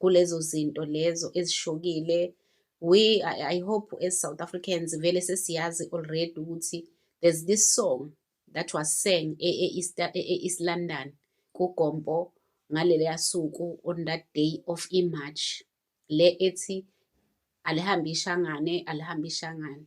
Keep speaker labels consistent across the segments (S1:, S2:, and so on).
S1: kulezo zinto lezo ezishokile we I, I hope as South Africans vele sesiyazi already ukuthi there's this song that was sang e, e, e, e East London kugompo ngaleleya suku on that day of imarch le ethi alihambe ishangane alihambe ishangane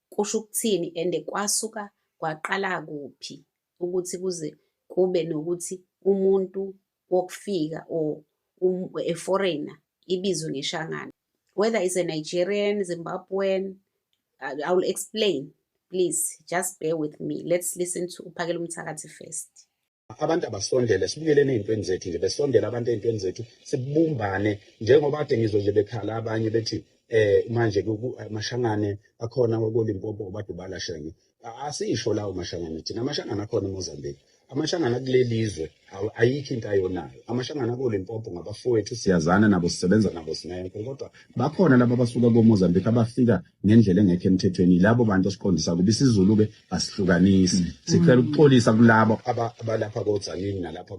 S1: kusho ukuthini and kwasuka kwaqala kuphi ukuthi kuze kube nokuthi umuntu wokufika or um, a foreigner ibizwe ngeshangana whether is a Nigerian Zimbabwean I, I will explain please just bear with me let's listen to uphakela umthakathi first abantu
S2: abasondele sibukeleni ey'ntweni zethu nje besondele abantu ey'ntweni zethu sibumbane njengoba kade ngizwe nje bekhala abanye bethi eh manje mashangane akhona kolimpopo badubala shenge asisho lawo mashangane thina amashangane akhona emozambique amashangana kulelizwe ayikho into ayonayo amashangana kolimpopo ngabafowethu siyazana nabo sisebenza nabo sinenko kodwa bakhona laba abasuka komozambique abafika ngendlela engekho emthethweni yilabo bantu osiqondisa kuba isizulu-ke asihlukanisi mm. sicela ukuxolisa kulabo abalapha kodzanini nalapha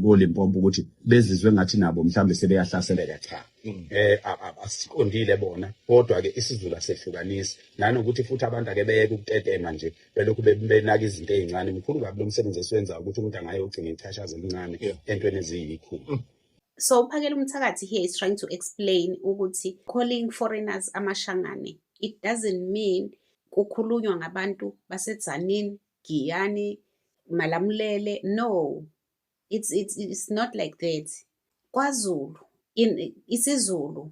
S2: kolimpopo ukuthi bezizwe ngathi nabo mhlawumbe sebeyahlaseleka cha um mm. eh, asiqondile bona kodwa-ke isizulu asehlukanisi nanokuthi futhi abantu ake beyeke ukutetema nje belokhu benaka izinto ey'ncane mkhulu kabi lo msebenzi esiwenzayo ukuthi umuntu angaye ogcina ichashazi elincane entweni eziyikhulu mm. so uphakela
S1: umthakathi here is trying to explain ukuthi calling foreigners amashangane it doesn't mean kukhulunywa ngabantu basetzanini giyani malamulele no it's, it's, it's not like that kwazulu in isizulu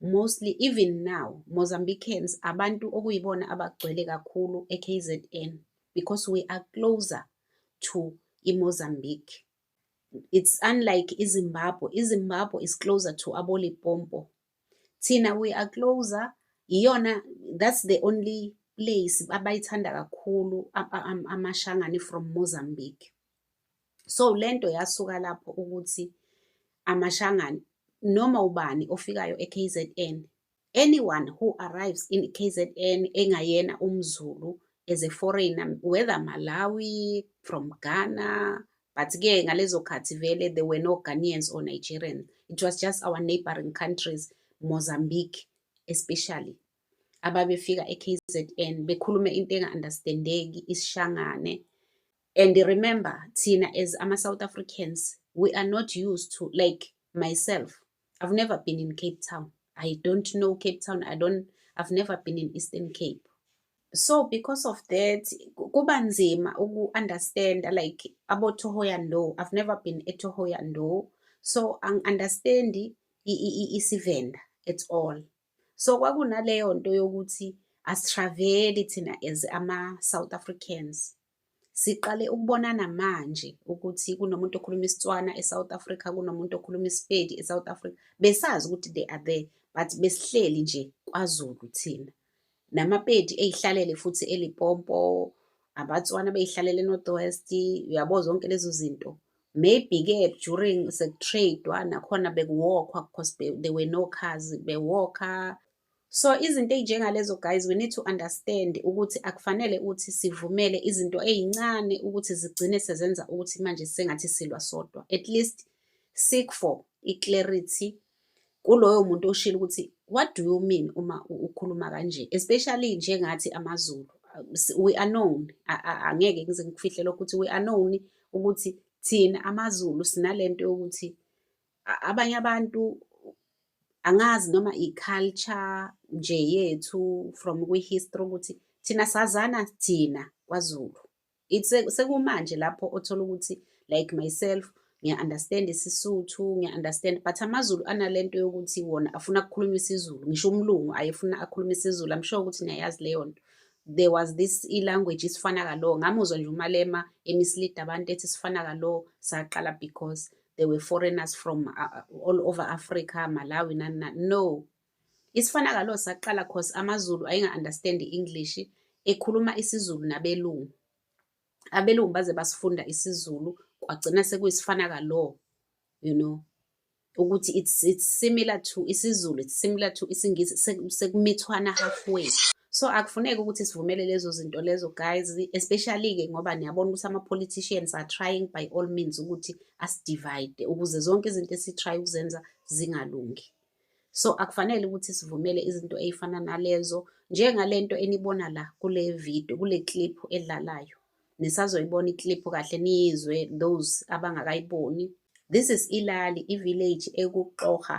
S1: mostly even now Mozambicans abantu okuyibona abagcwele kakhulu eKZN because we are closer to iMozambique it's unlike iZimbabwe iZimbabwe is closer to abolipompo thina we are closer iyona that's the only place abayithanda kakhulu amashangane from Mozambique so lento yasuka lapho ukuthi amashangane noma ubani ofikayo eKZN anyone who arrives in KZN engayena umZulu as a foreigner whether Malawi from Ghana but ke ngalezo khathi vele there were no Ghanaians or Nigerians it was just our neighboring countries Mozambique especially ababefika eKZN bekhulume into enga-understandeki isishangane and remember thina as ama-south africans we are not used to like myself i've never been in cape town i don't know cape town i don't i've never been in eastern cape so because of that kuba nzima uku-understanda like abotohoyando i've never been etohoyando so angi-understandi isivenda at all so kwakunaleyo nto yokuthi asitraveli thina as ama-south africans Siqale ukubonana manje ukuthi kunomuntu okhuluma isiTswana eSouth Africa, kunomuntu okhuluma isiPedi eSouth Africa. Besazi ukuthi they are there but besihleli nje kwaZulu thina. NamaPedi eyihlalele futhi eLipompo, abaTswana beyihlalele eNorth West, uyabo zonke lezo zinto. Maybe-ke during sekutradewa nakhona bekuwokhwa because there were no cars, bewokha So izinto ezinjengalezo guys we need to understand ukuthi akufanele ukuthi sivumele izinto ezincane ukuthi zigcine sezenza ukuthi manje sengathi silwa sodwa. At least seek for i-clarity kuloyo muntu oshilo ukuthi what do you mean uma ukhuluma kanje especially njengathi amaZulu we are known angeke ngize ngikufihle lokho ukuthi we are known ukuthi thina amaZulu sinalento yokuthi abanye abantu angazi noma i-culture nje yethu from kwi-history ukuthi thina sazana thina kwaZulu sekumanje lapho othola ukuthi like myself ngiya-understand isisuthu ngiya-understand but amazulu anale nto yokuthi wona afuna kukhuluma isizulu ngisho umlungu ayefuna akhulume isizulu i'm sure ukuthi niyayazi leyo nto there was this i-language isifana kalo ngamuzwa nje umalema emislida abantu ethi sifana kalo saqala because they were foreigners from uh, uh all over africa malawi nanina no isifana kalo saqala cause amazulu ayinga-understand i-english ekhuluma isizulu nabelungu abelungu baze basifunda isizulu kwagcina sekuyisifana kalo you know ukuthi it's, it's similar to isizulu it's similar to isingisi sekumithwana halfway so akufuneki ukuthi sivumele lezo zinto lezo guys especially-ke ngoba niyabona ukuthi ama-politicians are trying by all means ukuthi asidivide ukuze zonke izinto esitry ukuzenza zingalungi so akufanele ukuthi sivumele izinto ey'fana nalezo njengale nto enibona la kule video kule clip edlalayo nisazoyibona iclip kahle niyizwe those abangakayiboni this is ilali ivillage ekuxoha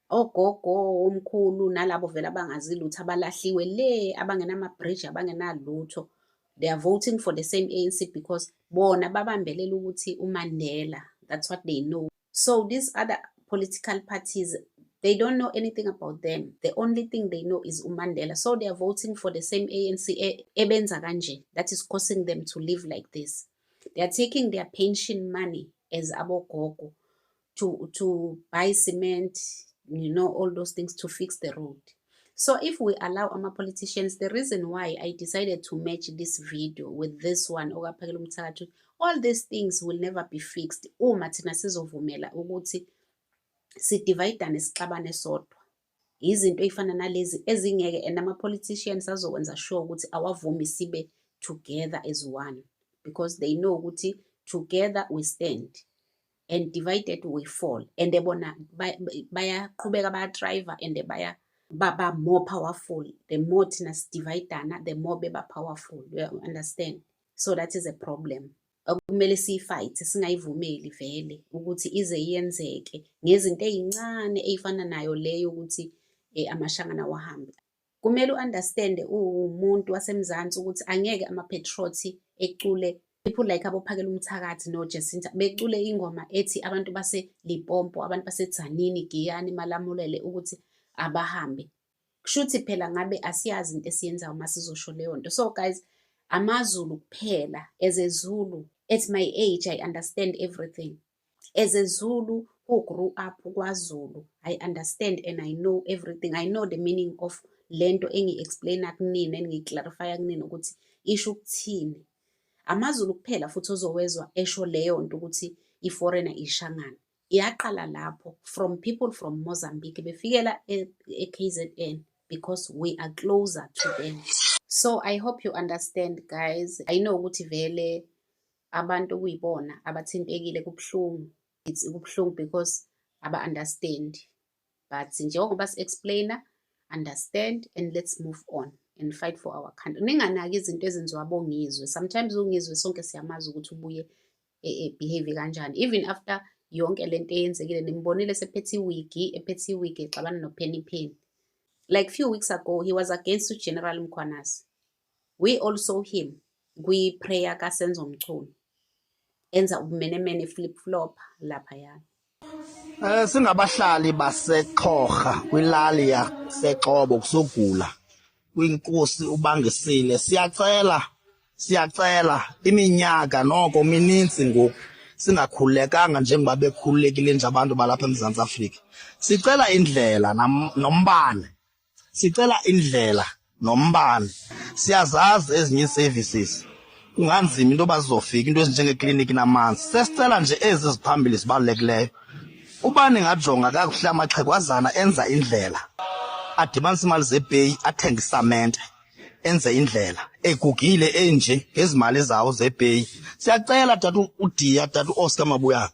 S1: ogogo omkhulu nalabo vele abangazi lutho abalahliwe le abangenama-bridge abangenalutho they are voting for the same anc because bona babambelela ukuthi umandela that's what they know so these other political parties they don't know anything about them the only thing they know is umandela so they are voting for the same anc e, ebenza kanje that is causing them to live like this they are taking their pension money as abogogo to, to buy cement, you know, all those things to fix the road. So if we allow our politicians, the reason why I decided to match this video with this one, all these things will never be fixed. Uma thina sizovumela ukuthi sidividane sixabane sodwa. Izinto ey'fana nalezi ezingeke and ama-politicians azokwenza sure ukuthi awavumi sibe together as one because they know ukuthi together we stand. and divided we fall and bona bayaqhubeka bayatriva and baya baba more powerful the more thina sidividana the more beba powerful you understand so that is a problem okumele siyifight singayivumeli vele ukuthi ize yenzeke ngezinto ezincane ezifana nayo leyo ukuthi eh, amashangana wahambe Kumele u-understand uwumuntu waseMzansi ukuthi angeke amaPetrothi ecule people like abophakela umthakathi noJesinta becule ingoma ethi abantu baseLipompo, abantu baseTzanini, Giyani, Malamulele ukuthi abahambe. Kushuthi phela ngabe asiyazi into esiyenzayo uma sizosho leyo nto. So guys, amaZulu kuphela as a Zulu at my age I understand everything. as a zulu who grew up kwazulu i understand and i know everything i know the meaning of lento engi-explaina kunina engiyi-clarifya kunina ukuthi isho ukuthini amazulu kuphela futhi ozowezwa esho leyo nto ukuthi i-foreigner ishangana yaqala lapho from people from mozambique befikela e-kzn e because we are closer to them so i hope you understand guys i know ukuthi vele abantu okuyibona abathintekile kubuhlungu it's kubuhlungu because aba-understand but njengoba si-explainer understand and let's move on and fight for our country ninganaki izinto ezenziwa bongizwe sometimes ungizwe sonke siyamazi ukuthi ubuye e, e, behave kanjani even after yonke le nto eyenzekile nimbonile sephethe iwigi ephethe iwigi exabana nopheni pheni like few weeks ago he was against ugeneral mkhwanasi We all saw him kwi-prayer kaSenzo Mchunu enza ubumenemene flip flop lapha ya Eh singabahlali
S3: baseXhorha kwilali yaseXobo kusogula kwinkosi ubangisile siyacela siyacela iminyaka noko mininzi ngoku singakhululekanga njengoba bekhululekile nje abantu balapha eMzantsi Afrika sicela indlela nombane sicela indlela nombani siyazazi ezinye services kunganzima into yoba zizofika into ezinjengekliniki namanzi sesicela nje ezi ziphambili zibalulekileyo ubani ngajonga kakuhle amaxhegwazana enza indlela adibanisa imali zepeyi athenge isamente enze indlela egugile enje ngezimali zawo zepeyi siyacela dade udiya dade u-oscar mabuyana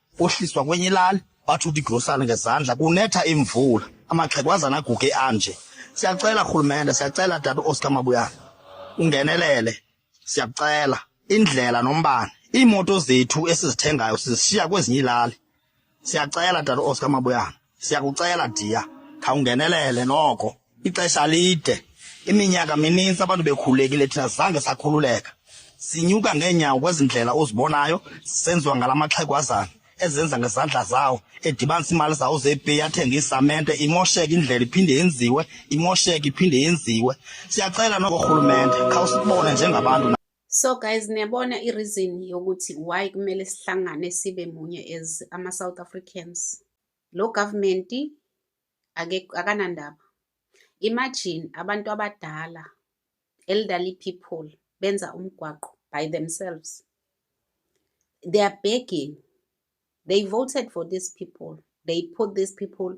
S3: kohliswa kwenye ilali bathi uthi igrosana ngezandla kunetha imvula amaxhegwazana aguge anje siyacela rhulumente siyacela tata uoscar mabuyana ungenelele siyacela indlela nombane iimoto zethu esizithengayo sizishiya kwezinye ilali siyacela tata uoscar mabuyana Siyakucela dear, khawungenelele noko. Ixesha lide. Iminyaka mininzi abantu bekhulekile thina zange sakhululeka. Sinyuka ngeenyawo kwezindlela ozibonayo senziwa ngalamaxhegwazana ezenza ngezandla zawo edibanisa imali zawo zepeyi athenge isamente imosheke indlela iphinde yenziwe imosheke iphinde yenziwe siyacela noko rhulumente khawusibone njengabantu So guys
S1: niyabona i reason yokuthi why kumele sihlangane sibe munye as ama South Africans. Lo government ake akanandaba. Imagine abantu abadala elderly people benza umgwaqo by themselves. They are begging. They voted for these people. They put these people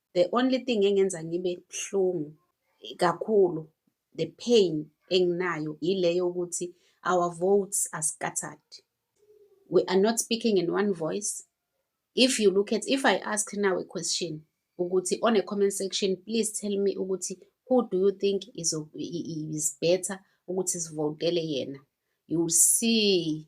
S1: the only thing engenza ngibe buhlungu kakhulu the pain enginayo yileyo ukuthi our votes are scattered we are not speaking in one voice if you look at if i ask now a question ukuthi on a comment section please tell me ukuthi who do you think is, is better ukuthi sivotele yena you will see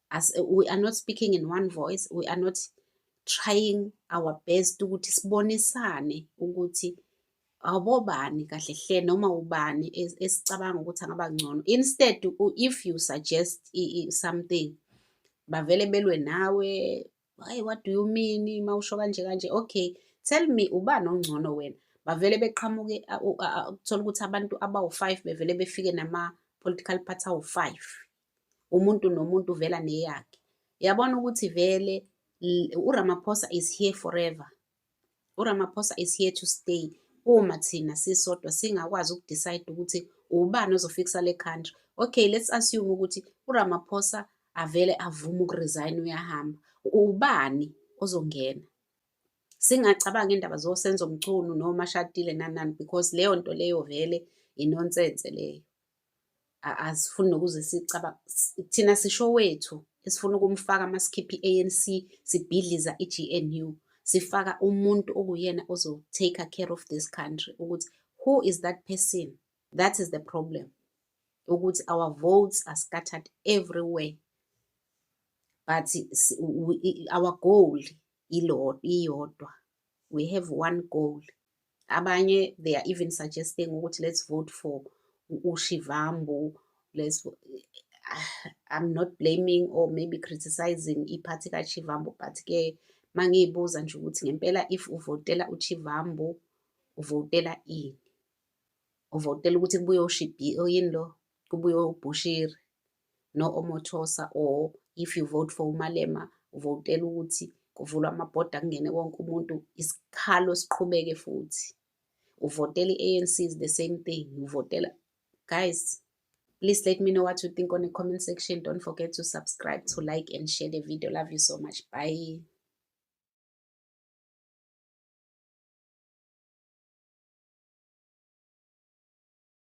S1: As, we are not speaking in one voice we are not trying our best ukuthi sibonisane ukuthi awubobani kahle hle noma ubani esicabanga ukuthi angaba ngcono instead if you suggest something bavele belwe nawe hayi what do you mean mawusho kanje kanje okay tell me ubani ongcono wena bavele beqhamuke kuthola ukuthi abantu abawu-five bevele befike nama-political party awu-five umuntu nomuntu uvela neyakhe yabona ukuthi vele uRamaphosa is here forever uRamaphosa is here to stay uma thina sisodwa singakwazi ukudecide ukuthi ubani ozofikisa le country okay let's assume ukuthi uRamaphosa avele avume ukuresign uyahamba ubani ozongena singacabanga indaba zosenzo mchunu noma shadile nanani because leyo nto leyo vele inonsense leyo asifuni nokuze sicaba thina sisho wethu esifuna ukumfaka masikhipha i-ANC sibhidliza i-GNU sifaka umuntu okuyena ozo-take care of this country ukuthi who is that person that is the problem ukuthi our votes are scattered everywhere but our goal iyodwa we have one goal abanye they are even suggesting ukuthi let's vote for ushivambu let's i'm not blaming or maybe criticizing iphathi kachivambu but ke mangiyibuza nje ukuthi ngempela if uvotela uchivambu uvotela ini uvotela ukuthi kubuye ushibhi oyini lo kubuye ubhushiri no Omothosa or if you vote for uMalema uvotela ukuthi kuvulwa amabhoda kungene wonke umuntu isikhalo siqhubeke futhi uvotela i-ANC is the same thing uvotela guys please let me know what you think on the comment section don't forget to subscribe to like and share the video love you so much bye